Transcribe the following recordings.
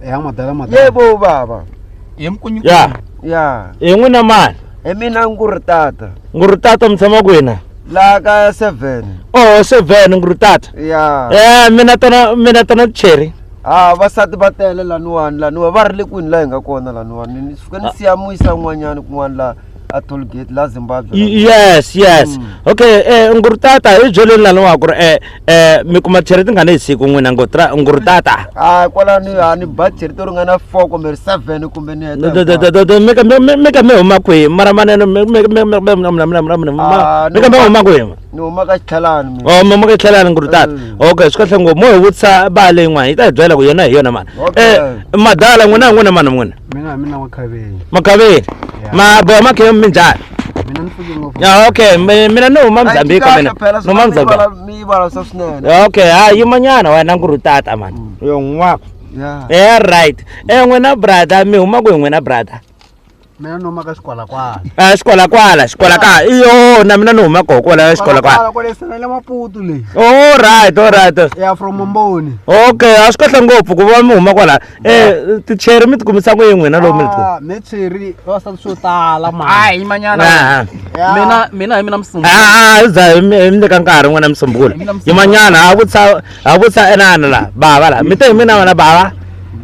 ya madala madala yebo baba hi mkunyu ya ya hi n'wina mani hi mina nguri tata nguri tata mi tshama kwina laha ka seven oh seven nguri tata ya eh mina tona mina tona cheri ha vasati va tele laniwani laniwa va ri le kwini laha hi nga kona laniwani ni suke ni siya muyisa n'wanyana kun'wana laha a toll gate la zimbabwe Y- yes yes okay eh ngurutata hi byeleni laniwa ku ri eh eh mi kuma chere tingani hi siku n'wina ngutra ngurutata a kwalani a ni ba cheri to ringana four kumbe ri seven kumbe ni heta hinkwayo. mika mi huma kwihi mara maneno mika mi huma kwihi ni huma ka xitlhalani mina. Oh, mama ke tlhelana nguri tata. Mm. Okay, swi kahle ngopfu. Mo hi vutisa ba leyi n'wana yi ta hi byela ku yona hi yona mani. Okay. Eh, madala n'wina n'wina mani n'wina. mina mina wa khaveni Makaveni. Yeah. Ma boya makhe mi njhani? mina ni fike ngopfu Ya okay, mi- mina ni huma Mozambique mina. Ni huma Mozambique. miyivalasa swinene Ya, Okay, ha yimanyana wena nguri tata mani. Yo n'wako. ya Eh right. Eh n'wina brother mi huma ku hi n'wina brother. mina ni huma ka xikwalakwala a xikwalakwala xikwalakwala i yona mina ni huma koho kwala xikwalakwala kwale sana le maputu leyi o right o right ya from mboni okay a swi kahle ngopfu ku va mi huma kwala eh ticheri mi tikumisa ku yini n'wina lowu mi ah, mi cheri va sa swo tala ma a hi manyana ah, ah. mina mina hi mina msungulu a a za hi mi nyika nkarhi n'wina msungulu hi manyana ha vutsa ha vutsa enana la bava la mi te hi mina wena bava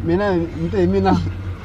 mina mi te hi mina